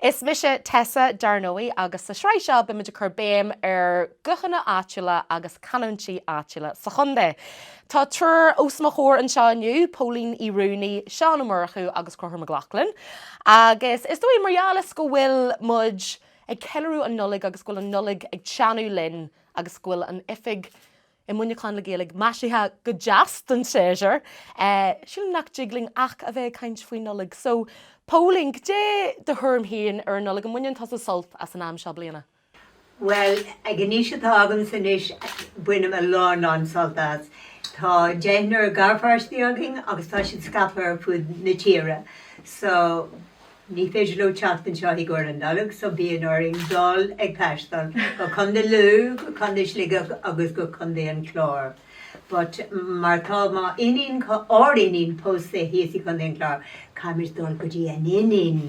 Is mise Tessa, dar ndóigh, agus sa sraith seo beimid ag cur béim ar guthanna áitiúla agus canúintí áitiúla sa chontae. Tá triúr os mo chomhair anseo inniu, Póilín Uí Ruanaí, Seán Ó Murchú agus Conchúr Mac Lochlainn, agus is dóigh, mar gheall is go bhfuil muid ag ceiliúradh an Nollaig agus go bhfuil an Nollaig ag teannadh linn agus go bhfuil an oifig i Muineachán le Gaeilge maisithe go deas don séasúr. Sílim nach dtig linn ach a bheith ag caint faoin Nollaig. So, Póilín, cad é do thuairim fhéin ar an Nollaig? An mbaineann tusa sult as an am seo bliana? Well, ag an aois atá agamsa anois, bainim a lán lán sult as. Tá deichniúr garpháistí againn agus tá siad scaipthe ar fud na tíre. So. Ní féidir leo teacht anseo i gcomhair an Nollag so bíonn orainn dul ag taisteal go Contae Lú, go Contae Shligigh agus go Contae an Chláir but mar tá m'iníon, ár iníon pósta thíos i gContae an Chláir caithfimid dul go dtí an iníon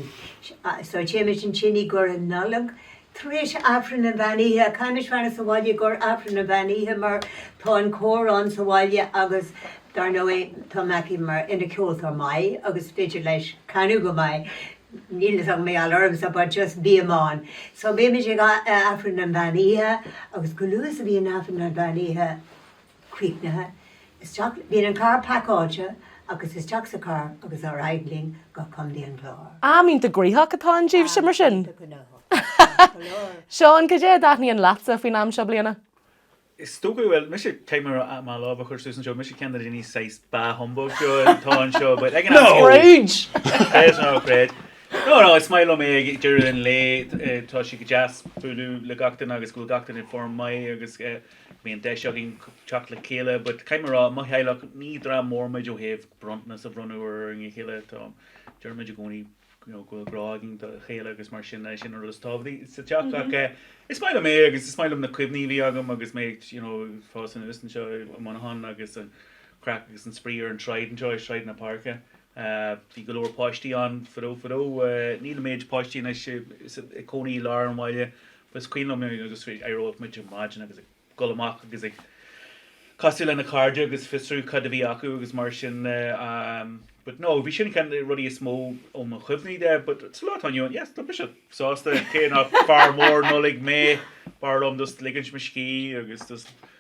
so téimid ansin i gcomhair an Nollag. Tar éis Aifreann an Mheán Oíche, caithfimid fanacht sa Bhaile i gcomhair Aifreann an Mheán Oíche mar tá an cór ann sa bhaile agus dar ndóigh tá Meaití mar ina ceoltóir maith agus is féidir leis canadh go maith. Níl a fhios agam mar gheall ormsa but just bím ann. So bímid ag Aifreann an Mheán Oíche agus go luath is a bhíonn Aifreann an Mheán Oíche, críochnaithe, isteach bíonn an carr pacáilte agus isteach sa charr agus ar aghaidh linn go Contae an Chláir. Am iontach gnóitheach atá ann daoibhse mar sin? Am iontach gnóthach, ceart go leor. Seán, cad é a thaitníonn leatsa faoin am seo bliana? Is dócha go bhfuil, mise, caithfidh mé mo lámh a chur suas anseo, mise ceann de na daoine saghas bah humbug seo atá anseo but ag an am céanna, Scrooge! creid nó ná creid, no no is maith liom é ag deireadh an lae tá sé go deas bualadh le gach duine agus go bhfuil gach duine i bhfoirm maith agus eh, Bíonn deis againn teacht le chéile but caithfidh mé rá, i mo theaghlach, ní dream mór muid ó thaobh bronntanas a bhronnadh ar a chéile. Tá, deir muid i gcónaí you know go bhfuil grá againn dá chéile agus mar sin, sin an rud is tábhachtaí sa teach ach eh is maith liom é agus is maith liom na cuimhní a bhí agam agus mé ag you know ag fás anuas anseo i Muineachán agus an chraic agus an spraoi ar an tsráid anseo i Sráid na Páirce. ahh bhí go leor páistí ann fadó fadó ahh níl an méid páistí anois ag cónaí i lár an bhaile but is cuimhin liom agus d'éireodh muid ar maidin agus ag dul amach agus ag casadh le na cairde agus fiosrú cad a bhí acu agus mar sin de ahh but no bhí sin ceann de na rudaí is mó ó mo chuimhní de but sa lá atá inniu ann yes tá mise sásta cé nach fear mór Nollaig mé b'fhearr liom just ligint mo scíth agus just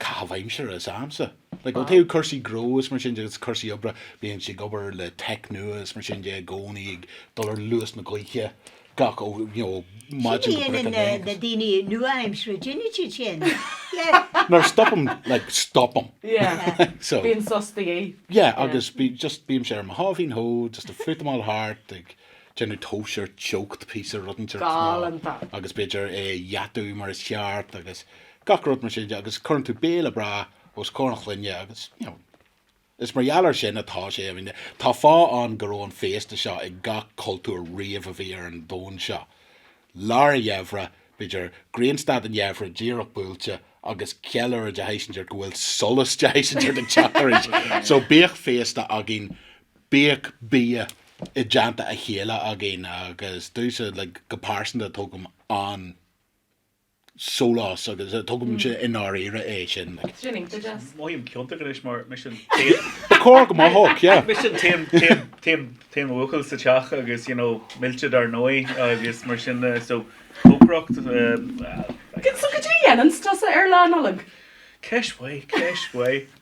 caitheamh aimsire is agamsa. Like, ó thaobh cúrsaí gnó is mar sin de, agus cúrsaí oibre, bímse ag obair le tech nua is mar sin de i gcónaí, ag dul ar luas na gaoithe gach, ó, you know, ó maidin go breac an lae agus. na daoine nua-aimseartha, déanann siad sin. Yeah. No, stopaim, like, stopaim. Yeah. So. Bíonn sos de dhíth. Yeah, agus bí, just bímse ar mo sháimhín shó, just ag fútamáil thart, ag déanamh tomhais ar teocht píosa, rud inteacht. Galánta. Agus b'fhéidir é a dheatú mar is ceart agus. gach rud mar sin de agus cuireann tú béile breá os comhair an chlainne agus you know is mar gheall ar sin atá sé, I mean tá fáth ann go raibh an féasta seo ag gach cultúr riamh a bhí ar an domhan seo. Lár a' gheimhridh, b'fhéidir, grianstad an gheimhridh díreach buailte agus ceiliúradh de shaghas inteacht go bhfuil solas de shaghas inteacht ag teacht arís so bíodh féasta againn, bíodh bia i dteannta a chéile againn agus domhsa like go pearsanta tógaim an. sólás agus tógaimse i ndáiríre é sin. Mothaím ciontach anois mar mise an t-aon. Ba chóir go mothódh, yeah. Mise an t-aon, t-aon, t-aon, t-aon bhuachaill sa teach agus you know millte dar ndóigh agus mar sin de so cócaireacht eh. So cad é a dhéananns tusa ar Lá Nollag? Ceist mhaith, ceist mhaith.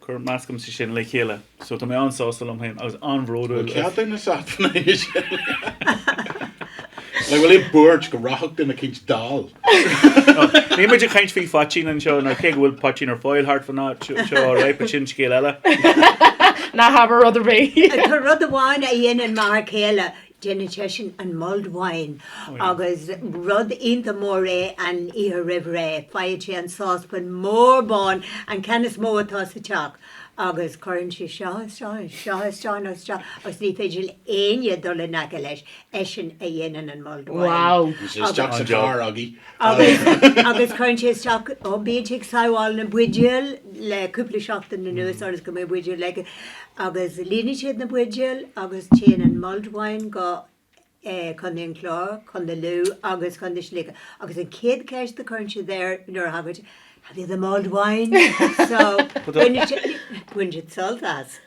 Cuir meascaimse sin le chéile. So, tá mé an-sásta liom féin agus an-bhródúil. Bhuel, céard é na Satanaigh is sin? Like, bhfuil aon buairt go rachadh duine éicínt dall? Níl muid ag caint faoi phoitín anseo, nó cé go bhfuil poitín ar fáil thart fán áit seo, all right, but sin scéal eile. Ná habair rud ar bith. Tá rud amháin a dhéanann m'fhear céile. Déanann seisean an mulled wine agus rud iontach mór é an oíche roimh ré. Faigheann sé an sáspan mór bán, an ceann is mó atá sa teach, agus cuireann sé seo isteach ann, seo isteach ann agus seo agus ní féidir le éinne dul in aice leis. Eisean a dhéanann an mulled wine. Wow! Bhí sé isteach sa charr againn. agus cuireann sé isteach ó bíonn sé ag sabháil na buidéal le cúpla seachtain anuas ionas go mbeidh buidéal aige agus líonann siad na buidéal agus téann an mulled wine go Contae an Chláir, Contae Lú agus Contae Shligigh agus an chéad ceist a cuireann siad air nuair a thagann sé, Have you the mulled wine? So, baineann siad sult as.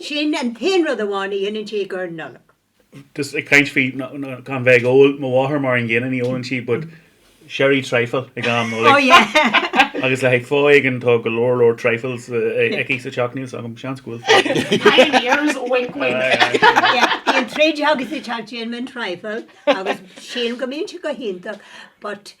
Sin an t-aon rud amháin a dhéanann sé ag an Nollaig. Just ag caint faoi gan bheith ag ól, mo mháthair mar an gcéanna ní ólann sí but sherry trifle ag am Nollaig agus le haghaidh fáth éigin tá go leor leor trifles aici sa teach, níl 's agam, seans go bhfuil fáth. Pioneers, wink wink. Bíonn troid againn sa teach déanaimid trifle agus sílim go mbíonn sé go hiontach but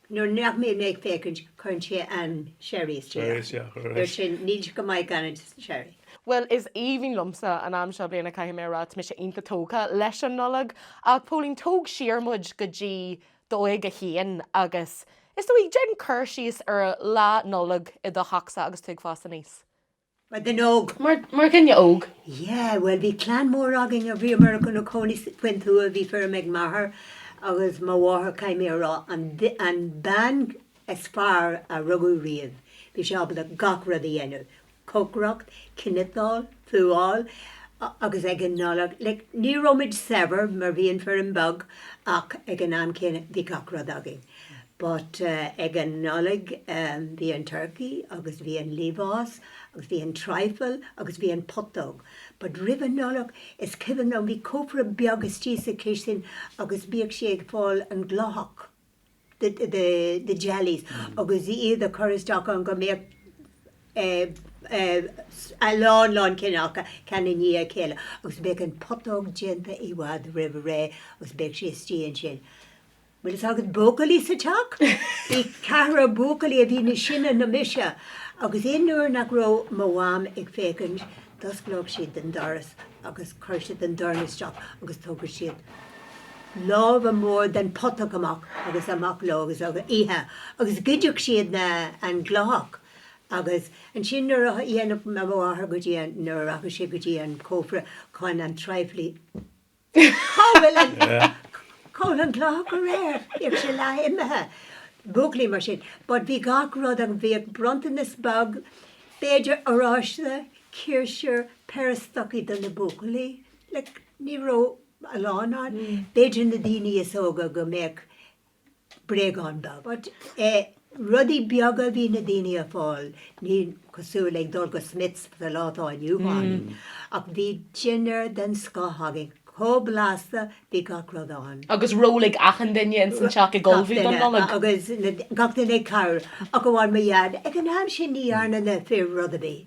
Nuair nach mbíonn mé ag féachaint cuireann sé an sherry isteach ann. Mar sin níl sé go maith gan an sherry. Bhuel is aoibhinn liomsa an am seo bliana caithfidh mé a rá. Tá mise iontach tógtha leis an Nollaig. Ach Póilín, tóg siar muid go dtí d'óige féin agus is dóigh, déan cur síos ar lá Nollag i do theachsa agus tú ag fás aníos. mar dhuine óg. mar dhuine óg. Yeah, bhuel bhí clann mór againn a bhíomar gona cónaí faoin tuath, bhí feirm ag m'athair agus mo mháthair caithfidh mé a rá, an an bean is fearr a rugadh riamh, bhí sé ábalta gach rud a dhéanamh, cócaireacht, cniotáil, fuáil agus ag an Nollaig, like ní raibh muid saibhir mar bhí an feirm beag ach ag an am céanna bhí gach rud againn. But ag an Nollaig bhí an turkey agus bhí an liamhás agus bhí an trifle agus bhí an putóg. But roimh an Nollaig is cuimhin liom bhí cófra beag istigh sa chistin agus bhíodh sí ag fáil an glóthach the the the jellies agus iad a chur isteach ann go mbeadh eh a lán lán cineálacha ceann i ndiaidh a chéile agus bheadh an putóg déanta i bhfad roimh ré agus bheadh sí istigh ansin. Bhfuil fhios agat buachaillí sa teach? Bhí ceathrar buachaillí a bhí níos sine ná mise agus aon uair nach raibh mo mham ag féachaint d'osclódh siad an doras agus chuir siad an dorn isteach agus tógadh siad lámha mór den putóg amach agus amach leo agus á ithe agus ghoideadh siad na an glóthach agus ansin nuair a dhéanadh mo mháthair go dtí an nuair a rachadh sé go dtí an cófra chun an trifle Cá bhfuil an glóthach go léir? Bhíodh sé leath imithe. Buachaillí mar sin. But bhí gach rud ann, bhíodh bronntanas beag, b'fhéidir oráiste, ciarsúr, péire stocaí do na buachaillí. Like, ní raibh a lán ann. B'fhéidir na daoine is óga go mbeadh bréagán beag. But rudaí beaga a bhí na daoine ag fáil, ní cosúil ag dul go Smyths sa lá atá inniu ann, ach bhí dinnéar den scoth againn, chomh blasta, bhí gach rud ann. Agus ról ag achan duine ins an teach ag ullmhú don Nollaig? Agus gach duine ag cabhrú, ach amháin mo dhaid, ag an am sin ní dhearna na fir rud ar bith.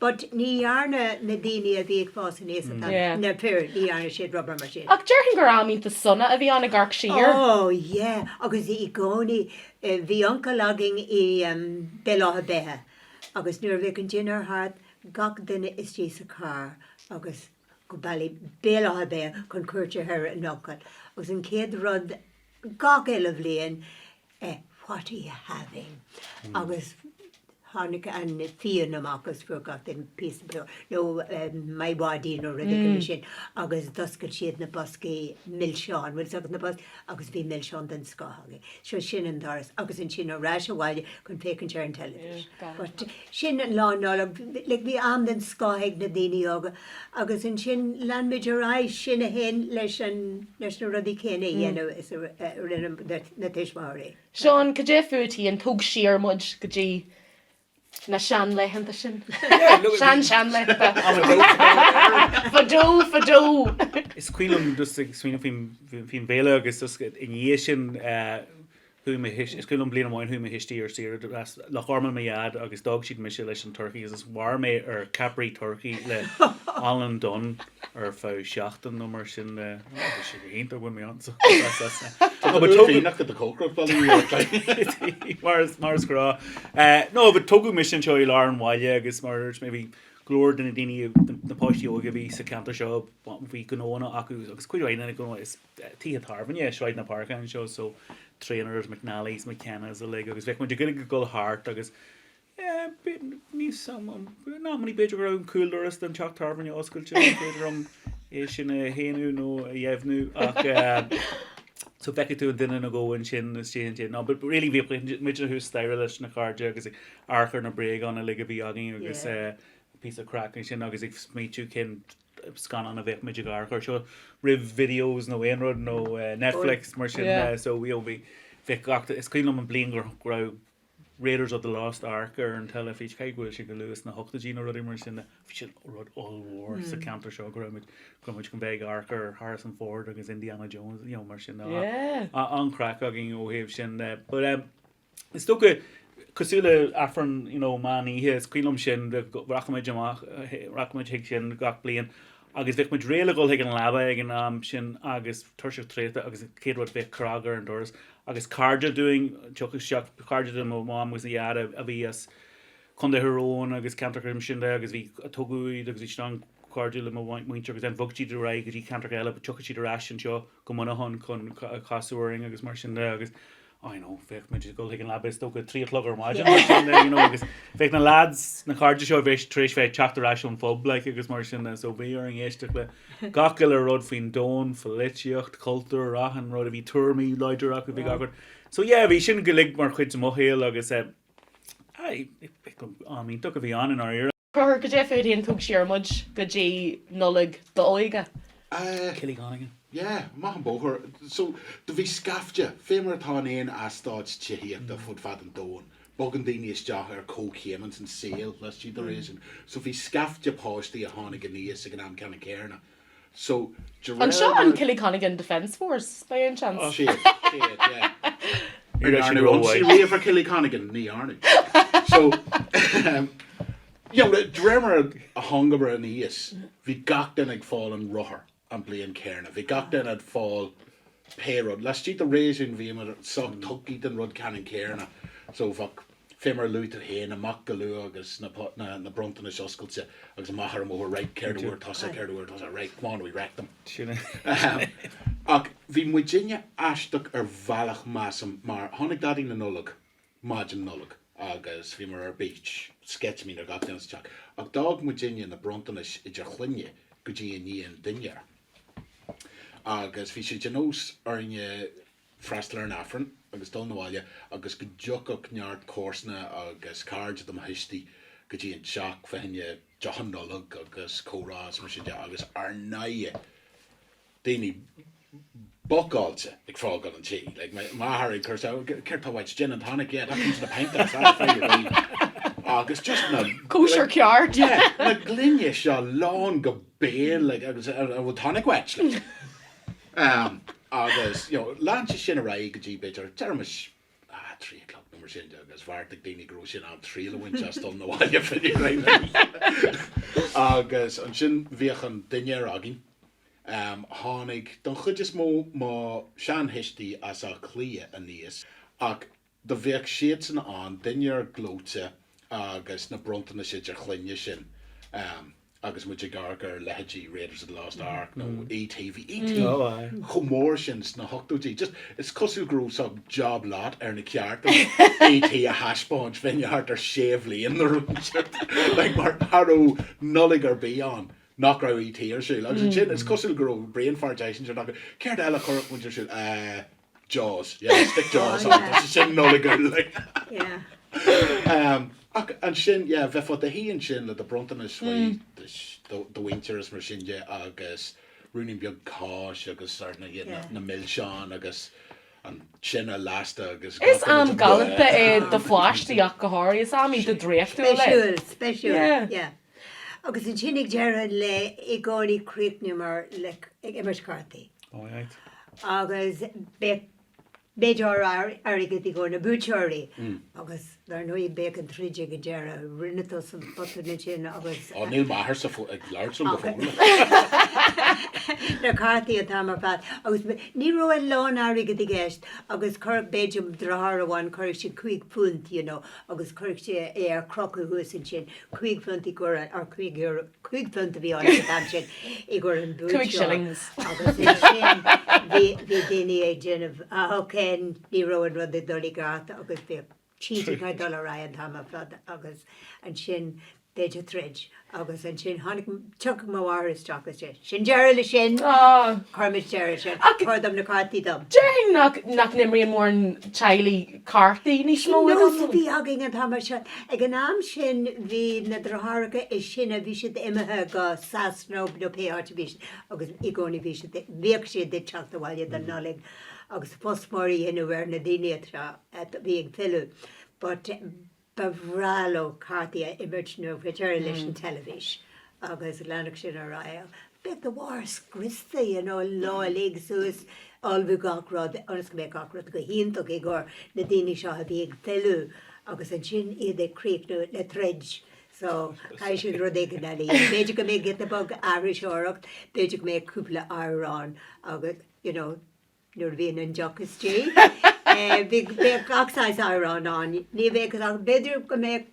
But ní dhearna na daoine a bhí ag fás aníos sa teach, Yeah. na fir, ní dhearna siad rud ar bith mar sin. Ach déarfainn gur am iontach sona a bhí ann ag amharc siar. Oh yeah agus i gcónaí. Bhí uncail againn i em, Béal Átha Beithe agus nuair a bheadh an dinnéar thart gach duine istigh sa charr agus go Bally, Béal Átha Beithe chun cuairt a thabhairt ar an uncail agus an chéad rud gach uile bhliain, eh what are you having agus tháinig an fíon amach agus Forgot an Peace nó My Wadi nó rud éigin mar sin agus d'oscail siad na boscaí milseán bhfuil agus na bos agus bhí milseán den scoth againn. So sin an doras agus ansin ar ais abhaile chun féachaint ar an television. But Sin Lá Nollag. Like bhí am den scoth ag na daoine óga agus ansin lean muid ar aghaidh, sinn féin leis an, leis na rudaí céanna a dhéanamh is a rinne na tuismitheoirí. Seán, cad é fútsa, tóg siar muid go dtí na sean laethanta sin. Yeah, look at me. Sean sean laethanta. I'm a goat to them or whatever. Fadó fadó. Is cuimhin liom just ag smaoineamh faoin fhéile agus just i ndiaidh sin eh, Chuaigh mé thuist, is cuimhin liom bliain amháin chuaigh mo thuistí ar saoire, de as Loch Garman mo dhaid agus d'fhág siad mise leis an turcaí agus is mhair mé ar ceapairí turcaí le Alan Dunne ar feadh seachtain nó mar sin agus bhí sé go hiontach bhain mé an-sult as as na Tá tú uair féin ach go do cócaireacht bhfuil a fhios agat. Mar is mar is grá eh no but tógadh mise anseo i lár an bhaile agus mar a dúirt mé bhí go leor de na daoine na páistí óga a bhí sa cheantar seo bhí gnóanna acu agus cuid mhaith de na gnóanna is tithe tábhairne, Sráid na Páirce anseo, so Trainors, McNally's, McKenna's uilig agus bheadh muid ag iarraidh ag dul thart agus níos, nach mbeadh, b'fhéidir go raibh an cúldoras don teach tábhairne oscailte, ní féidir liom é sin a shéanadh nó a dheimhniú ach so d'fheicfeadh tú an duine nó dhó ansin is déanaí ansin ná but really bhí muid thuas staighre leis na cairde agus ag amharc ar na bréagáin uilig a bhí againn agus píosa craice ansin agus ag smaoitiú cén scannán a bheadh muid ag amharc ar seo roimh videos nó aon rud nó Netflix mar sin yeah so you know bhí bheadh gach is cuimhin liom an bliain go raibh Raiders of the Lost Ark ar an teilifís cé go bhfuil sé go luath sna hochtóidí nó rudaí mar sin bhí sin rud ollmhór sa hmm. ceantar seo go raibh muid go muid go bheith amharc ar Harrison Ford agus Indiana Jones you know mar sin yeah an-chraic againn ó thaobh sin eh, but um, Is dócha, cosúil le Aifreann you know meán oíche, is cuimhin liom sin, rachadh muid amach, rachadh muid chuig sin gach bliain agus bheadh muid réidh le dhul chuig an leaba ag an am sin agus tuirseach traochta agus an chéad rud bheadh cnag ar an doras agus cairde dúinn, thiocfadh isteach cairde de mo mham agus mo dhaid a bhí as Contae Thír Eoghain agus ceantracha mar sin de agus bhí, tógadh iad agus bhí siad an-chairdiúil le mo mhuintir agus then bhog siad ar aghaidh go dtí ceantracha eile but thiocfadh siad ar ais anseo go Muineachán chun casadh orainn agus mar sin de agus I know, bheadh muid ag dul chuig an leaba is dócha trí a chlog ar maidin nó sin you know agus bheadh na lads, na cairde seo bheadh tar éis bheith teacht ar ais ón phub like agus mar sin de so bhí orainn éisteacht le gach uile rud faoin domhan, pholaitíocht, cultúr, achan rud, bhí tuairimí láidre acu, bhí gach rud. So yeah, bhí sin uilig mar chuid de mo shaol agus eh, aye, am iontach a bhí ann i ndáiríre. Ceathrar goidé fút féin? Tóg siar muid go dtí Nollaig d'óige. Ah, Killyconigan. yeah, amach an bóthar. So, do bhí scaifte, fé mar atá in aon eastáit tithíochta fud fad an domhain, bogann daoine isteach ar comhchéim san saol laistigh de réasún. So bhí scaifte páistí a tháinig aníos ag an am ceannann céarna. So, de réir An seo mar. an Killyconigan Defence Force, by any chance? Á, sí é, sí é, yeah. Ní dhearnadh ionsaí riamh ar Killyconigan, ní dhearnadh. So, um, you know, de réir mar a thángamar aníos, bhí gach duine ag fáil an rothar an bhliain chéarna. Bhí gach duine ag fáil pé rud. Laistigh de réasún bhíomar sách tugtha don rud ceannann céarna. So, bheadh fé mar a luaigh tú féin, amach go luath agus na bronntanais oscailte agus amach ar an mbóthar raight, céard a fuair tusa, céard a fuair tusa, raight, come on, we wrecked them. Sin é. Ahem. Ach bhí muidinne aisteach ar bhealach measaim mar tháinig Daidí na Nollag maidin Nollag agus bhíomar ar bís, sceitimíní ar gach duine sa teach, ach d'fhág muidinne na bronntanais idir chloinne go dtí i ndiaidh an dinnéir. Agus bhí sé de nós orainne freastal ar an Aifreann agus dul na bhaile agus go dtiocfadh neart comharsana agus cairde de mo thuistí go dtí an teach, fá choinne deochanna Nollag agus comhrá is mar sin de agus ar ndóighe daoine bocáilte ag fágáil an tí, like mo mháthair ag cur céard tá uait, gin and tonic, yeah, that comes in a pint that's it, fine with me agus just na, Cóisir ceart! yeah, na gloiní seo lán go béal like agus an bhfuil tonic uait like. Agus you know lean sé sin ar aghaidh go dtí b'fhéidir deirimis a' trí a chlog nó mar sin de agus bheartaigh daoine go raibh sé in am triail a bhaint as dul na bhaile fé dhéin a' lae agus ansin bhíodh an dinnéar againn. Tháinig don chuid is mó mo shean-thuistí as Áth Cliath aníos ach Do bheadh siadsan ann, dinnéar gleoite agus na bronntanais idir chloinne ansin agus muid ag amharc ar leithéidí Raiders of the Lost Ark nó E.T. Bhí E.T. chomh mór sin sna hochtóidí, just, is cosúil go raibh saghas job lot ar na cearta E.T. a thaispeáint, fá choinne thart ar sé bhliain in a row, like, mar cha raibh Nollaig ar bith ann nach raibh E.T. ar siúl. Agus ansin is cosúil go raibh brain fart eicínt ar na, céard eile a chuirfeadh muid ar siúl? Eh. Jaws, yeah, stick jaws on, tá sé sin Nollaig ann like. Yeah. Ach ansin, yeah, bheifeá i do shuí ansin le do bhronntanais faoi do mhuintir is mar sin de agus ruainnín beag cáis agus ar ndóighe na milseáin agus an tine lasta agus gach Is am galánta é do pháistí ach go háirithe, is am iontach draíochtúil é. Speisiúil, speisiúil, yeah. Agus ansin ag deireadh an lae i gcónaí chríochnaíomar le, ag imirt cártaí. All right. Agus b'fhéidir airgead i gcomhair na buaiteoirí agus dar ndóigh bheadh an troid ag an deireadh. Rinne tusa an botún ansin agus. Ó níl m'athairse ag labhairt liom go fóill. Na cártaí an t-am ar fad agus ní raibh an lán airgid i gceist agus chuir b'fhéidir mo dheartháir amháin chuir sé cúig phunt you know agus chuirfeadh sé é ar crochadh thuas ansin. Cúig phunt i gcomhair an, or cúig euro, cúig phunt a bhí ann ag an am sin i gcomhair an bhuaiteoir Two shillings. agus ansin bhí, bhí daoine ag déanamh, ah ok ní raibh an rud ag dul i gceart agus bhíodh, cheating ag dul ar aghaidh an t-am ar fad agus ansin b'fhéidir troid agus ansin tháinig, thiocfadh mo mháthair isteach is deir, sin deireadh le sin! Cuirimid deireadh le sin, tabhair dom na cártaí dom! Déarfainn nach, nach n-imríonn mórán teaghlaigh cártaí níos mó. Sin nós a bhí againn an t-am ar fad. Ag an am sin bhí na deartháireacha is sine, bhí siad imithe go Sasana nó pé áit a bhí siad agus i gcónaí bhí siad, bhíodh siad ag teacht abhaile don Nollaig agus fuss mór a dhéanamh ar na daoine atá, a bhí ag filleadh but, ba bhreá leo cártaí a imirt nó whichever leis an teilifís agus leanfadh sin ar aghaidh. Bheadh do mháthair scriosta you know lá uilig suas ullmhú gach rud ionas go mbeadh gach rud go hiontach i gcomhair na daoine seo a bhí ag filleadh agus ansin iad ag críochnú le troid so chaithfeadh siad rud éigin eile a dhéanamh. B'fhéidir go mbeadh giota beag aithriseoireacht, b'fhéidir go mbeadh cúpla amhrán agus you know. Nuair a bhíonn an deoch istigh bíonn gach saghas amhrán ann. Ní bheadh ach, b'fhéidir go mbeadh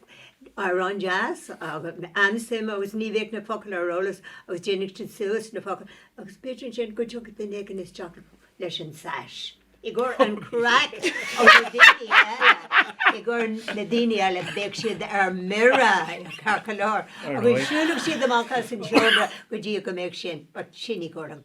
amhrán deas agus an-suim agus ní bheadh na focail ar eolas agus dhéanfadh siad suas na focail agus b'fhéidir ansin go dtiocfadh duine éigin isteach leis an tSash i gcomhair an chraic ó na daoine eile, i gcomhair na daoine eile bheadh siad ar mire ceart go leor agus siúlfadh siad amach as an seomra go dtí go mbeadh sin, but sin i gcomhair an.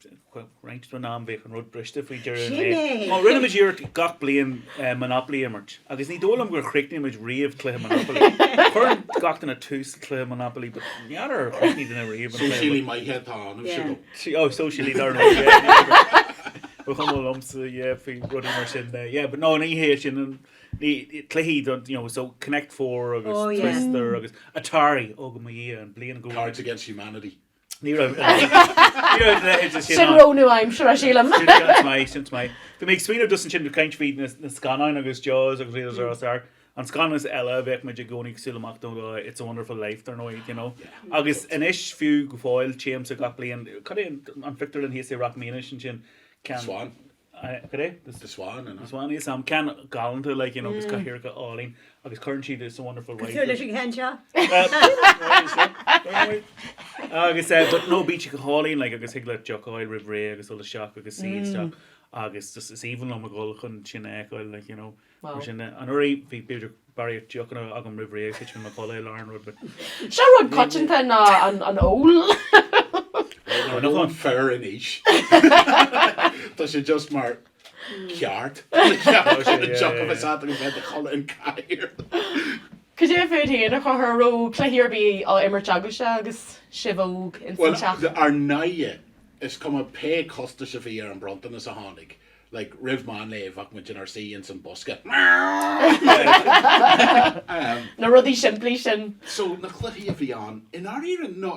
Sin é! Mar rinne muid iarracht gach bliain Monopoly a imirt, agus ní dóigh liom gur chríochnaigh muid riamh cluiche Monopoly. Cuireann gach duine tús cluiche Monopoly, but n'fheadar ar chríochnaigh duine riamh an cluiche. Sóisialaí maith atá ionam, sílim. Oh, sóisialaí, dar ndóigh, yeah. Ba chuma liomsa, yeah, faoi rudaí mar sin de. Yeah, but no, ní hé sin an, ní, cluichí do, you know, so Connect Four agus Twister agus Atari, oh, go mba í an bhliain go bhfuil. Cards Against Humanity. Ní raibh ní raibh an leithéid de sin ann. Sin rogha nua-aimseartha, sílim. Sin sin is maith, sin is maith. Bhí mé ag smaoineamh just ansin ag caint faoi na na scannáin agus Jaws agus Raiders of the Lost Ark. An scannán eile a bheadh muid i gcónaí ag súil amach dó ná It's a Wonderful Life dar ndóigh, you know. Agus anois fiú go fóill téimse gach bliain, cad é an an pictiúrlann thíos i Rathmines ansin? An Swan. The Swan, an ea? Is ea ceann galánta like you know agus cathaoireacha álainn agus cuireann siad it's a wonderful life. Cosúil leis an gceann seo? Agus eh but no beach go hálainn like agus thig leat deoch a fháil roimh ré agus dul isteach agus suí isteach agus just is aoibhinn liom a dhul chun sin a fheiceáil like you know. Mar sin de, anuraidh bhí b'fhéidir barraíocht deochanna agam roimh ré agus thit mé i mo chodladh i lár an rud, but. Seo rud coitianta ná an ól. Well nuair atá an fear in aois tá sé just mar ceart deoch a bheith agat agus bheith i do chodladh ar an chathaoir. Cad é fút féin a chur a raibh cluichí ar bith á imirt agaibhse agus sibh óg ins an teach? Well ar ndóighe is cuma pé costas a bhí ar an bronntanas a tháinig like roimh meán lae bheadh muid inár suí ins an bosca um. Na rudaí simplí sin. So na cluichí a bhí ann i ndáiríre ná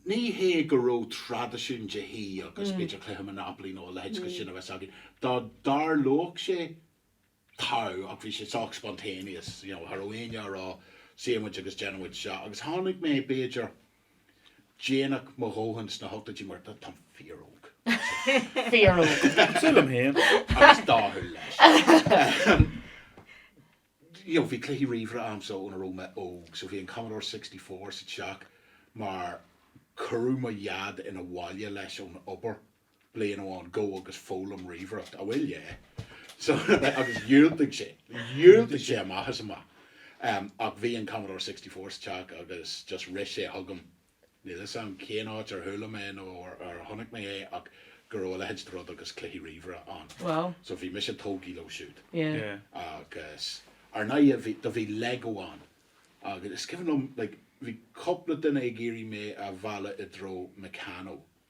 ní hé go raibh traidisiún de thí agus b'fhéidir cluiche Monopoly nó a leithéid de sin a bheith againn dá dtarlódh sé Tá, ach bhí sé sách spontaneous, you know, cha raibh éinne ag rá suífidh muid agus déanfaidh muid seo agus tháinig mé b'fhéidir déanach mo dhóthain sna hochtóidí mar tá, táim fíor-óg. Fíor óg. Cosúil liom féin. Agus dathúil leis. You know, bhí cluichí ríomhaire a'm so óna raibh mé óg so bhí an Commodore sixty four sa teach mar cuireadh mo Dhaid 'na bhaile leis ón obair. bliain amháin gabh agus foghlaim ríomhaireacht. Á bhuel yeah. So agus dhiúltaigh sé. Dhiúltaigh sé amach is amach. Um ach bhí an Commodore sixty four sa teach agus just rith sé chugam, níl 'fhios a'm cén áit ar chuala mé nó ar ar chonaic mé é ach go raibh a leithéid de rud agus cluichí ríomhaire ann. Wow. So bhí mise tógtha leo siúd. Yeah. Yeah. Agus ar ndóighe bhí, do bhí Lego ann agus is cuimhin liom like bhí cúpla duine ag iarraidh mé a mhealladh i dtreo Meccano.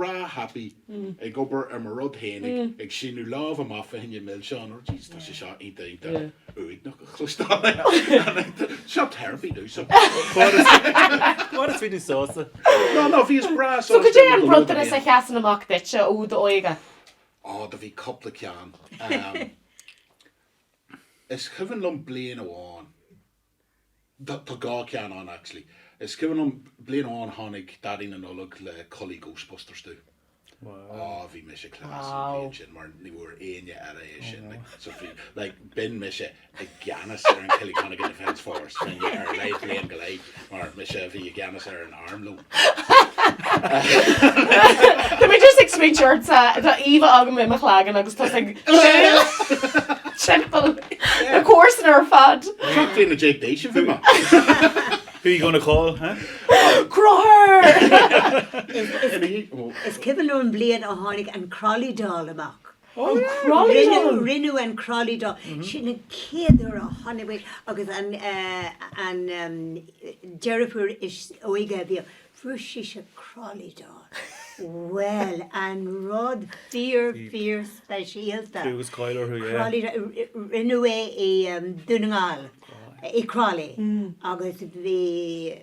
breá happy ag obair ar mo rud féin ag síneadh lámh amach fá choinne milseán oh jeez tá sé seo iontach iontach uaigneach a chloisteáil seo therapy dó seo fad is bhí tú sásta no no bhíos breá so cad é an bronntanas a sheasann amach duitse ó d'óige á do bhí cúpla ceann is cuimhin liom bliain amháin Tá dhá cheann ann actually. Is cuimhin liom bliain amháin tháinig Daidí na Nollag le culaith Ghostbusters domh. Aww. Aww bhí mise class an bhliain sin mar ní bhfuair éinne eile é sin like so bhí like bhínn mise i gceannas ar an Killyconnigan Defence Force fá choinne ar a laghad bliain go leith mar mise a bhí i gceannas ar an arm leo. Tá mé just ag smaointeamh ort sa, tá íomhá agam i mo chloigeann agus tusa ag siúl timpeall na comharsan ar fad. Seacht bliana déag d'aois a bhí mé. Who you gonna call, huh? Crothadh! Is cuimhin liom an bhliain a tháinig an Crolly Doll amach. An Crolly Doll! Rinneadh an Crolly Doll, sin an chéad uair a tháinig muid agus an deirfiúr is óige a bhíodh, fuair sise crolly doll. Bhuel, an rud fíor fíor speisialta. Bhí agus cáil orthu, yeah. Crolly doll, rinneadh é i Dún na nGall, i Crolly agus bhí,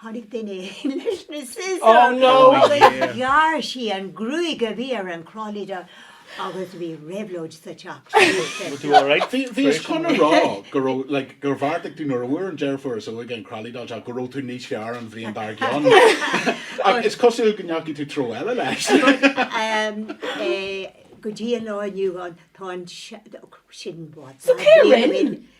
Tháinig duine éigin leis na scissors agus ghearr sí an gruaig a bhí ar an Crolly Doll agus bhí réabhlóid sa teach sin. Bhíos chun a rá go raibh, like, gur bheartaigh tú nuair a fuair an deirfiúr is óige an Crolly Doll seo go raibh tú níos fearr an bhliain dár gcionn. Ach is cosúil go ndeachaigh tú treo eile leis. But ehm eh go dtí an lá inniu ann tá an, sin bád So cé a rinn?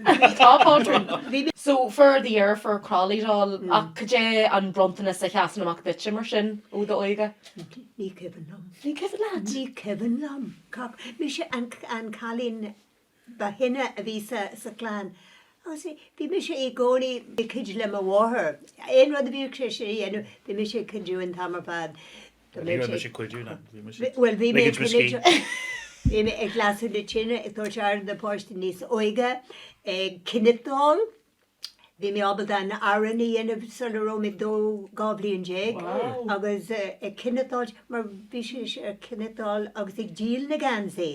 Tá pátrún. So fuair do dheirfiúr Crolly Doll ach cad é an bronntanas a sheasann amach duitse mar sin ó d'óige? Ní cuimhin liom. Ní cuimhin leat? Ní cuimhin liom. Mise an cailín ba shine a bhí sa chlann agus bhí mise i gcónaí ag cuidiú le mo mháthair. Aon rud a bhíodh sise a dhéanamh bhí mise ag cuidiú an t-am ar fad. Bhí mé ag cuidiú ná. Bhuel bhí mé ag lasadh na tine, ag tabhairt aire do na páistí níos óige, ag cniotáil, bhí mé ábalta an arán a dhéanamh sula raibh mé dó dhá bhliain déag agus ag cniotáil mar bhí sise ag cniotáil agus ag díol na geansaí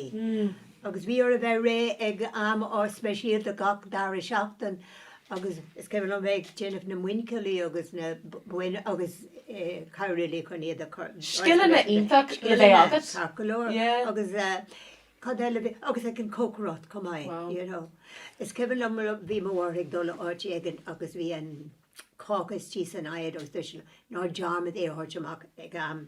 agus bhí orthu bheith réidh ag am speisialta gach dara seachtain Agus is cuimhin liom bheith ag déanamh na muinchillí agus na boinn agus ag cabhrú léi chun iad a chur suas ar an talamh. Scileanna iontacha le bheith agat. Scileanna ceart go leor. Yeah. Agus cad eile a bhí, agus ag an cócaireacht chomh maith. Wow. You know. Is cuimhin liom bhí mo mháthair ag dul áit éigin agus bhí an cáca istigh san oigheann agus dúirt sí liom, ná dearmad é a thabhairt amach ag am.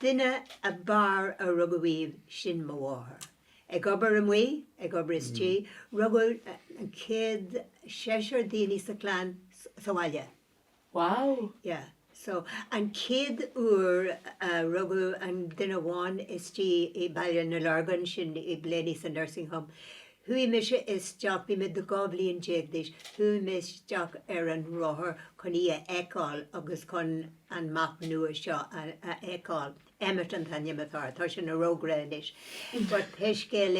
Duine ab fhearr a rugadh riamh sin mo mháthair. Ag obair amuigh, ag obair istigh, rugadh an chéad seisear daoine sa chlann sa bhaile. Wow! Yeah, so an chéad uair a rugadh an duine amháin istigh i Baile na Lorgan, sin i Blayney sa Nursing Home, Chuaigh mise isteach, bhí mé dó, 12 bhliain d'aois, chuaigh mé isteach ar an rothar chun í a fheiceáil agus chun an mac nua seo a fheiceáil. Emmet an t-ainm atá air, tá sé ina fhreagra anois. But pé scéal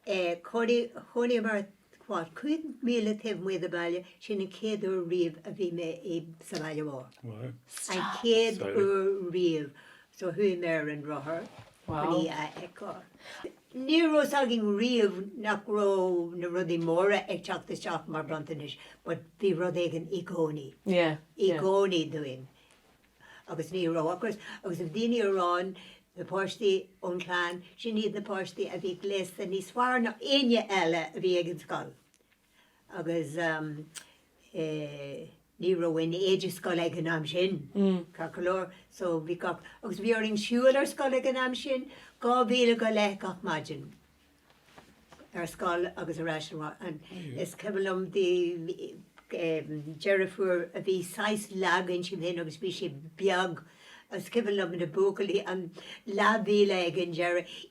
é, chónaigh, chónaigh muid, what, 5 míle taobh amuigh den bhaile, sin an chéad uair riamh a bhí mé i, sa bhaile mhór. Wow. An chéad uair riamh. So chuaigh mé ar an rothar chun í a fheiceáil. Ní raibh a fhios againn riamh nach raibh na rudaí móra ag teacht isteach mar bhronntanais but bhí rud éigin i gcónaí, i gcónaí dúinn agus ní raibh ocras agus bhí daoine ag rá, na páistí ón chlann sin, iad na páistí a bhí gléasta níos fearr ná éinne eile a bhí ag an scoil. agus ní raibh aon éide scoile ag an am sin, ceart go leor, so bhí gach, agus bhí orainn siúl ar scoil ag an am sin, dhá mhíle go leith gach maidin, ar scoil agus ar ais abhaile. Is cuimhin liom bhí deirfiúr a bhí saghas lag insan, inti féin agus bhí sí beag, is cuimhin liom na buachaillí, an leathmhíle ag an deireadh,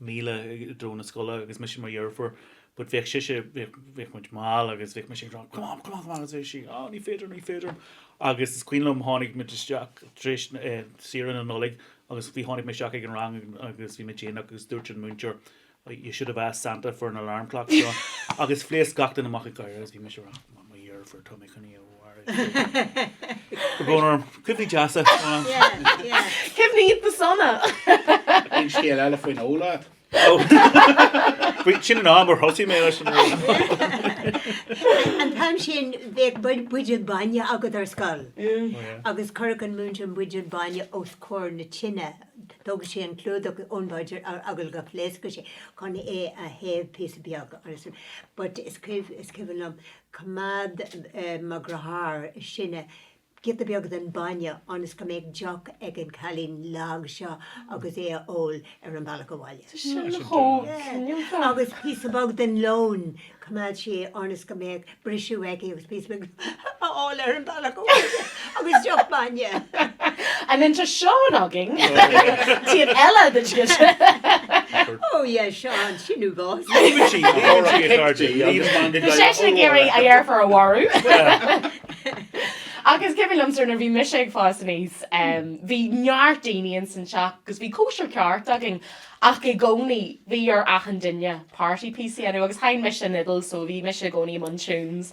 míle i dtreo na scoile agus mise mo dheirfiúr but bheadh sise bheadh bheadh muid mall agus bhí mise ag rá come on come on come on agus sí oh ní féidir ní féidir agus is cuimhin liom tháinig muid isteach tar éis eh, saoire na Nollag agus bhí tháinig mé isteach ag an rang agus bhí mé déanach agus dúirt an múinteoir "Oh, you should have asked Santa for an alarm clock John agus phléasc gach duine amach ag gáire agus bhí mise ag rá mo dheirfiúr tá mé chun í a We're going our cuimhní deasa. Cuimhní iontach sona! Bhí an scéal eile faoin ól leat. Sin an am ar thosaigh mé leis an ól. An t-am sin bheadh buidéal bainne agat ar scoil agus chuirfeadh an múinteoir an buidéal bainne os comhair na tine, tógfadh sé an clúdach ón mbuidéal ar eagla go bpléascfadh sé chun é a théamh píosa beag. But is cuimhin liom choimeád mo dheartháir is sine, giota beag den bainne ionas go mbeadh deoch ag an chailín lag seo agus é a ól ar an bhealach abhaile. Tá sin chomh soineanta. Agus píosa beag den lón, choimeád sé é ionas go mbeadh briseadh aici agus píosa beag a fháil ar an bhealach abhaile. Agus deoch bainne. And then tá Seán againn, taobh eile den scéal. Oh yeah, Seán, sin í bhfáth. Lean sí ag gáire ag cairde í agus bhain go Bhí seisean ag iarraidh a dheirfiúr a mharú. Agus is cuimhin liomsa nuair a bhí mise ag fás aníos, bhí neart daoine ins an teach agus bhí cóisir cheart againn ach i gcónaí bhí ar achan duine party piece a dhéanamh agus sheinn mise an fhidil so bhí mise i gcónaí i mbun tunes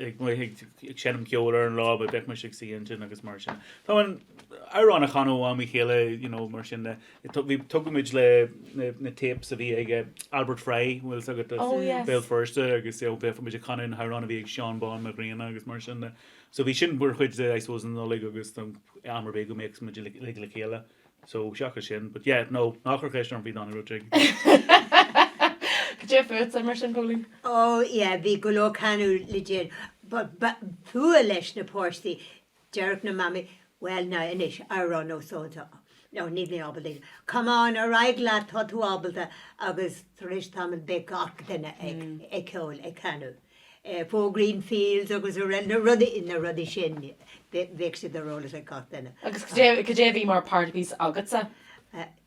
ag amuigh ag ag seinm ceoil ar an lá but bheadh mise ag suí ansin agus mar sin Tá an amhrán a chanadh ó am go chéile you know mar sin de It tu- bhí tógadh muid le na na tapes a bhí ag eh, Albert Fry bhfuil a fhios agat de Oh Béal yes. Feirste agus eh, bheadh muid ag canadh na hamhráin a bhí ag Seán Bán Mac Grianna agus mar sin de so bhí sin mar chuid de I suppose an Nollaig agus am ar bith go mbeadh muid le le chéile So, seachas sin, but yeah, no, ná cuir ceist orm bhí dána rud ag Cad é fútsa mar sin Póilín. Ó, yeah, bhí go leor canadh le déanamh, but b'fhuath leis na páistí, déarfadh na mamaí, well, now, anois, amhrán ó so and so, no, níl mé ábalta, come on, ar aghaidh leat, tá tú ábalta, agus tar éis tamaill bheadh gach duine ag ceol, ag canadh. Four Green Fields agus na rudaí sin, bheadh siad ar eolas ag gach duine. Agus cad é a bhí mar party piece agatsa?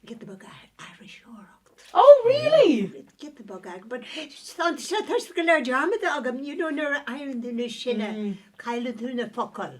Giota beag aithriseoireacht. Oh really? Giota beag agat but tá sé go léir dearmadta agam, you know nuair a éiríonn tú níos sine, cailleann tú na focail.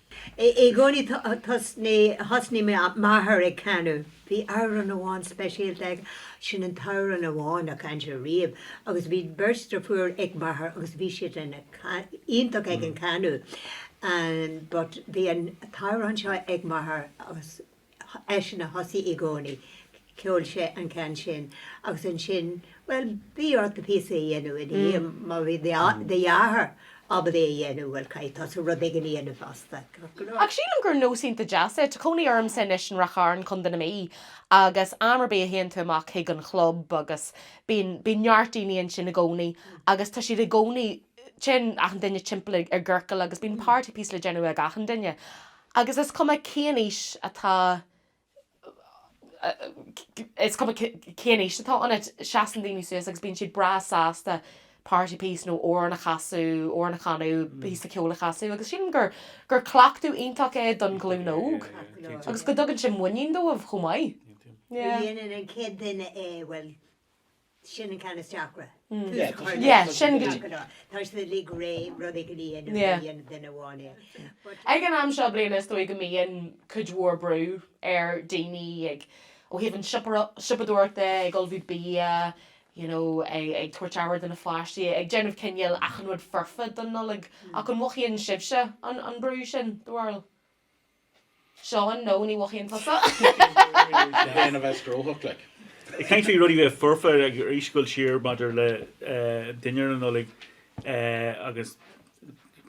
I gcónaí thosnaigh m'athair ag canadh. Bhí amhrán amháin speisialta aige, sin an t-amhrán amháin a chan sé riamh agus bhí beirt dheirfiúr ag m'athair agus bhí siad iontach ag an chanadh but bhí an t-amhrán seo ag m'athair agus eisean a thosaigh i gcónaí, cheol sé an ceann sin agus ansin, bhuel, bhí ort do phíosa a dhéanamh ina dhiaidh, má bhí do dheartháir ábalta é a dhéanamh, bhuel, caithfidh tusa rud éigin a dhéanamh fosta. Ach sílim gur nós iontach deas é. Tá cónaí ormsa anois in Ráth Chairn, Co. na Mí, agus am ar bith a théann tú amach chuig an chlub agus bíonn, bíonn neart daoine ansin i gcónaí agus tá siad i gcónaí, téann achan duine timpeall i gciorcal agus bíonn party piece le déanamh ag achan duine. Agus is cuma cén aois atá is cuma cén aois atá ionat, seasann daoine suas agus bíonn siad breá sásta party piece nó amhrán a chasadh, amhrán a chanadh, píosa ceoil a chasadh agus sílim gur gur cleachtadh iontach é don ghlúin óg agus go dtugann sé muinín dóibh chomh maith. Yeah. Nuair a dhéanann an chéad duine é, bhuel. sin an ceann is deacra, tús a chur le rud a dhéanamh go deo. Tá siad uilig réidh rud éigin a dhéanamh nuair a dhéanann duine amháin é. But. Ag an am seo bliana is dóigh go mbíonn cuid mhór brú ar daoine ag, ó thaobh an siopadóireachta, ag ullmhú bia, you know, ag tabhairt aire do na pháistí, ag déanamh cineál achan rud foirfe don Nollaig. Ach an mhothaíonn sibhse an brú sin, do bharúil? Seán, No, ní mhothaíonn tusa. Ag caint faoi rudaí bheith foirfe agus ag gabháil siar maidir le dinnéar na Nollag agus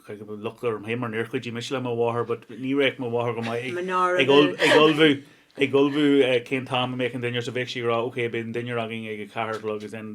chuir go bhfuil locht orm féin mar níor chuidigh mise le mo mháthair but ní bheadh mo mháthair go maith ag ag ullmhú ag ullmhú cén t-am a mbeadh an dinnéar so bheadh sí ag rá ok beidh an dinnéar againn ag a ceathair a chlog agus then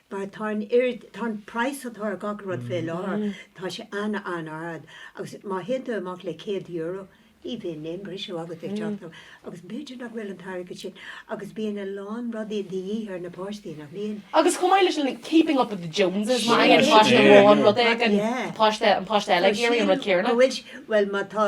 mar tá an oiread, tá an praghas atá ar gach rud fé láthair, tá sé ana ard agus má théann tú amach le céad euro ní bhíonn aon briseadh agat ag teacht amach agus b'fhéidir nach bhfuil an t-airgead sin agus bíonn a lán rudaí de dhíth ar na páistí nach mbíonn. Agus chomh maith le sin like keeping up with the Joneses má fhaigheann páiste amháin rud éigin tá páiste, an páiste eile ag iarraidh an rud céarna. Bhuel má tá,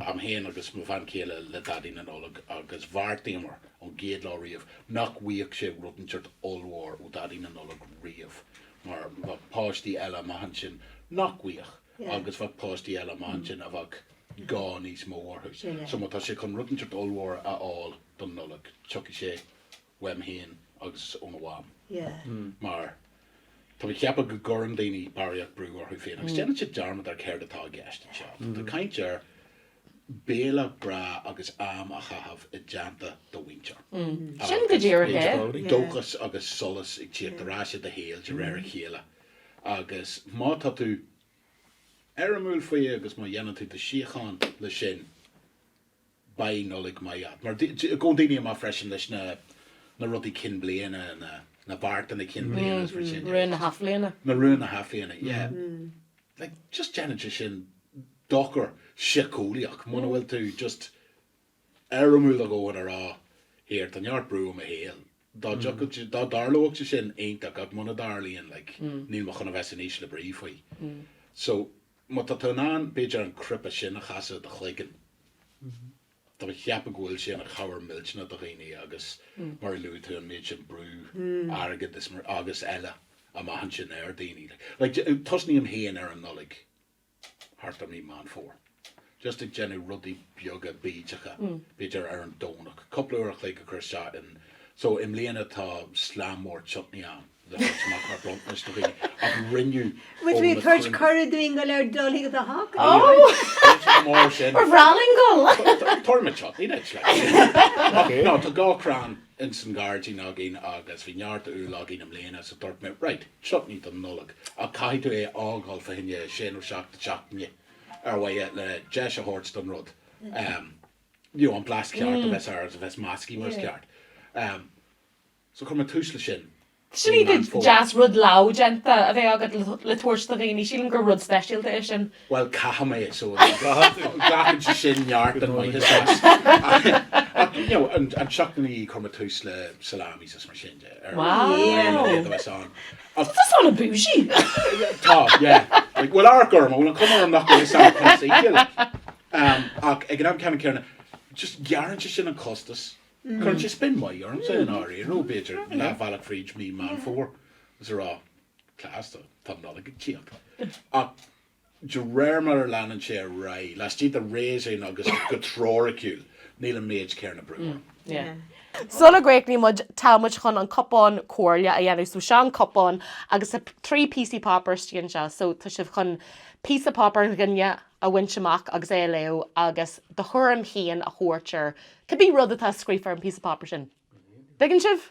Agam féin agus mo bhean chéile le Daidí na Nollag agus bheartaíomar ón gcéad lá riamh nach bhfaigheadh sé rud inteacht ollmhór ó Dhaidí na Nollag riamh mar bheadh páistí eile amach ansin nach bhfaigheadh agus bheadh páistí eile amach ansin a bheadh gá níos mó orthu. So má tá sé chun rud inteacht ollmhór a fháil don Nollaig, tiocfaidh sé uaim féin agus ó na mham mar tá mé ag ceapadh go gcuireann daoine barraíocht brú orthu féin agus déanann siad dearmad ar céard atá i gceist anseo. Tá tú ag caint ar béile breá agus am a chaitheamh i dteannta do mhuintir agus dóchas agus solas ag tíocht ar ais i do shaol de réir a chéile agus má tá tú éirimiúil faoi agus má dhéanann tú do shíocháin leis sin, Beidh Nollaig maith agat. Mar gabhann daoine amach freisin leis na na rudaí cinn bliana, na na beartanna cinn bliana is rud sin. Rúin na hathbhliana. Na rúin na hathbhliana, yeah. Like just déanann sé sin dochar síceolaíoch muna bhfuil tú just éirimiúil a dhóthain a rá here tá neart brú i mo shaol. Dá dtarlódh sé sin iontach ach muna dtarlaíonn like níl mé chun a bheith san ísle brí faoi. So Má tá tú in ann, b'fhéidir, an cnaipe sin a chasadh i do chloigeann. Tá mé ag ceapadh go bhfuil sé ina chabhair millteanach do dhaoine agus mar a luaigh tú an méid sin brú airgead is mar agus eile amach ansin ar daoine. Like, tosnaím féin ar an Nollaig thart ar mí Meán Fómhair. just ag déanamh rudaí beaga bídeacha, b'fhéidir ar an Domhnach, cúpla uair a chloig a chur isteach in. So i mbliana tá slám mór chutney agam le tabhairt amach mar bronntanas do dhaoine ach rinneadh Bhfuil tú ag tabhairt cuireadh dúinn go léir dul chuig do theach? Ní raibh, Oh! níl sé chomh mór sin. We're all going to go! Tá, tá, tabharfaidh mé chutney duit like. Ach no, tá dhá chrann ins san ghairdín againn agus bhí neart úll againn i mbliana so dúirt mé right, chutney don Nollaig ach caithfidh tú é a fhágáil faoi cheann sé nó seacht, seachtaine. ar mhaithe le deis a thabhairt don rud, you know, an blas ceart a bheith air agus a bheith meascaithe mar is ceart. So chuir mé tús leis sin i Meán Fómhair. deas rud lámhdhéanta a bheith agat le tabhairt do dhaoine, sílim gur rud speisialta é sin. Bhuel, caithfidh mé, so glacann sé sin neart ama as. Ach, you know, an seachtain ina dhiaidh chuir mé tús le salamis is mar sin de, ar mhaithe le rud a bheith ann. Ach tá sin an-bhúisí. Tá, yeah. Like, bhfuil amharc orm, an bhfuil an cuma orm nach bhfuil ag seinm chumas oíche, like? Ach ag an am céanna, céarna, just gearrann sé sin an costas. Cuireann sé spin maith ormsa i ndáiríre, nuair b'fhéidir leath bealaigh fríd mí Meán Fómhair, is a rá, class, tá an Nollaig ag teacht. Ach. De réir mar a leanann sé ar aghaidh, laistigh de réasún agus go teoiriciúil, níl an méid céarna brú orm. Sula gcríochnaíonn muid, tá muid chun an cupán comhairle a dhéanamh. So seo an cupán agus tá trí píosaí páipéir istigh anseo. So tá sibh chun píosa páipéir an duine a bhaint amach agus é a léamh agus do thuairim féin a thabhairt air, cibé rud atá scríofa ar an bpíosa páipéir sin. Dtuigeann sibh?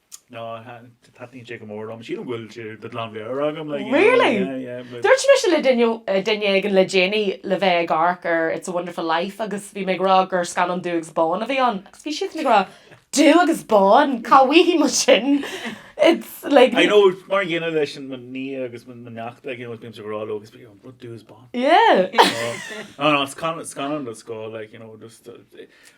No, taitníonn sé go mór liom. Sílim go bhfuil sé de ghlanmheabhair agam, like, Really? yeah, yeah, yeah, but. Dúirt mise le duine, duine éigin le déanaí le bheith ag amharc ar It's a Wonderful Life agus bhí mé ag rá gur scannán dubh agus bán a bhí ann agus bhí siad ag rá Dubh agus bán? Cá bhfaighidh muid sin? It's, like, I know, mar a dhéanaim leis an, mo nia agus mo, mo neacht, like, you know, is bímse ag rá leo agus bíonn siad, What, dubh is bán? Yeah. No, no, it's scannán, scannán den scoth, like, you know, just,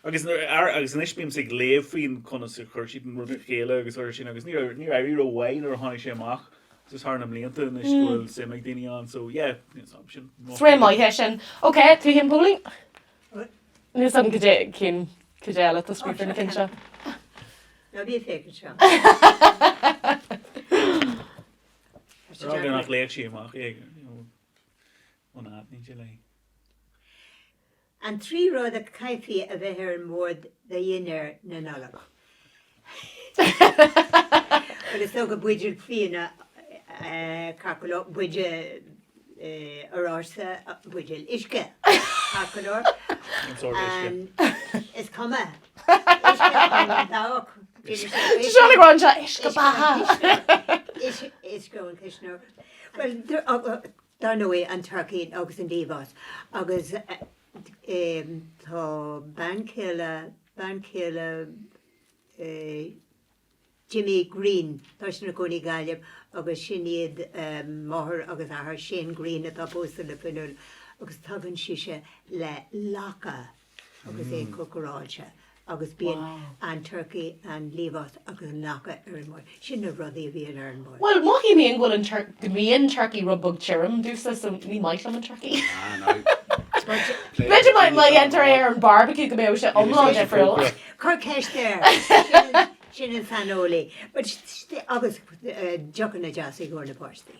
Agus nuair a, agus anois bímse ag léamh faoin conas a chuir siad an rud le chéile agus mar sin agus níor éirigh, níor éirigh rómhaith nuair a tháinig sé amach just thar na mblianta anois go bhfuil suim ag daoine ann so yeah is am sin Is rí-mhaith é sin. Ok, tú féin Póilín? Níl a fhios agam go dé cinn cad eile tá scríofa ar na cinn seo. Na bhí fé seo. Rá gur nach léann sí amach é. Ó ná ní lei. An trí rud a chaithfí a bheith ar an mbord do dhinnéar na Nollag? Bhuel, is dócha buidéal fíona, Coca-Cola, buidéal oráiste, buidéal uisce, Coca-Cola, Cén sórt uisce? is cuma, uisce ón dabhach, Shíl mé go raibh sé uisce beatha! Uisce ón chuisneoir. Bhuel, Dar ndóigh, an turcaí agus an liamhás. Agus tá bean chéile, bean chéile Jimmy Greene, tá siad ina gcónaí i nGaillimh agus sin iad máthair agus athair Shane Greene atá pósta le Fionnuala agus tugann sise léi lacha. agus é cócaráilte agus bíonn an turcaí, an liamhás agus an lacha ar an mbord. Sin na rudaí a bhíonn ar an mbord. Bhuel, mothaím féin go bhfuil an, go mbíonn turcaí rud beag tirim domhsa so ní maith liom an turcaí. Ah no. B'fhéidir má dhéantar é ar an barbecue go mbeadh sé iomlán difriúil. Cuir ceist air. Sin an saineolaí. Agus deochanna deasa i gcomhair na páistí.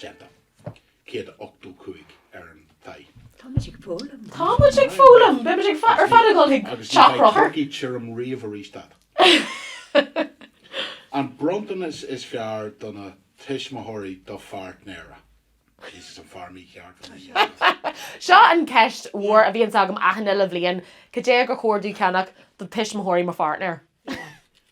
déanta. 185 ar an thigh. Tá muid ag foghlaim. Tá muid ag foghlaim. Beidh muid ag fa- ar fad ag dul chuig teach Chonchúir. Agus ní bheidh turcaí tirim riamh arís agat. An bronntanas is fearr do na tuismitheoirí do pháirtnéara? Jesus, an fear mícheart a rinne sin. Seo an cheist mhór a bhíonns agam achan uile bhliain, cad é gur chóir domh cheannach do tuismitheoirí mo pháirtnéir?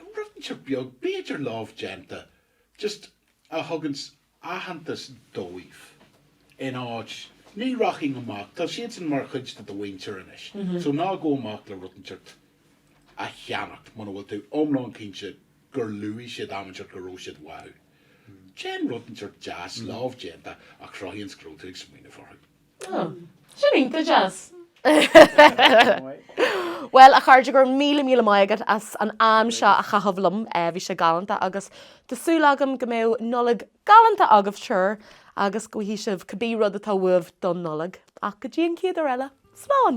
Rud inteacht beag b'fhéidir lámhdhéanta just a thugann aitheantas dóibh in áit ní rachainn amach tá siadsan mar chuid de do mhuintir anois so ná gabh amach le rud inteacht a cheannacht muna bhfuil tú iomlán cinnte gur luaigh siad am inteacht go raibh siad uathu déan rud inteacht deas lámhdhéanta a chruthaíonns go raibh tú ag smaoineamh orthu. Sin iontach deas! Bhuel, a chairde, go raibh míle míle maith agat as an am seo a chaitheamh liom. Bhí sé galánta agus tá súil agam go mbeidh Nollaig galánta agaibh triúr agus go bhfaighidh sibh cibé rud atá uaibh don Nollaig. Ach go dtí an chéad uair eile, slán!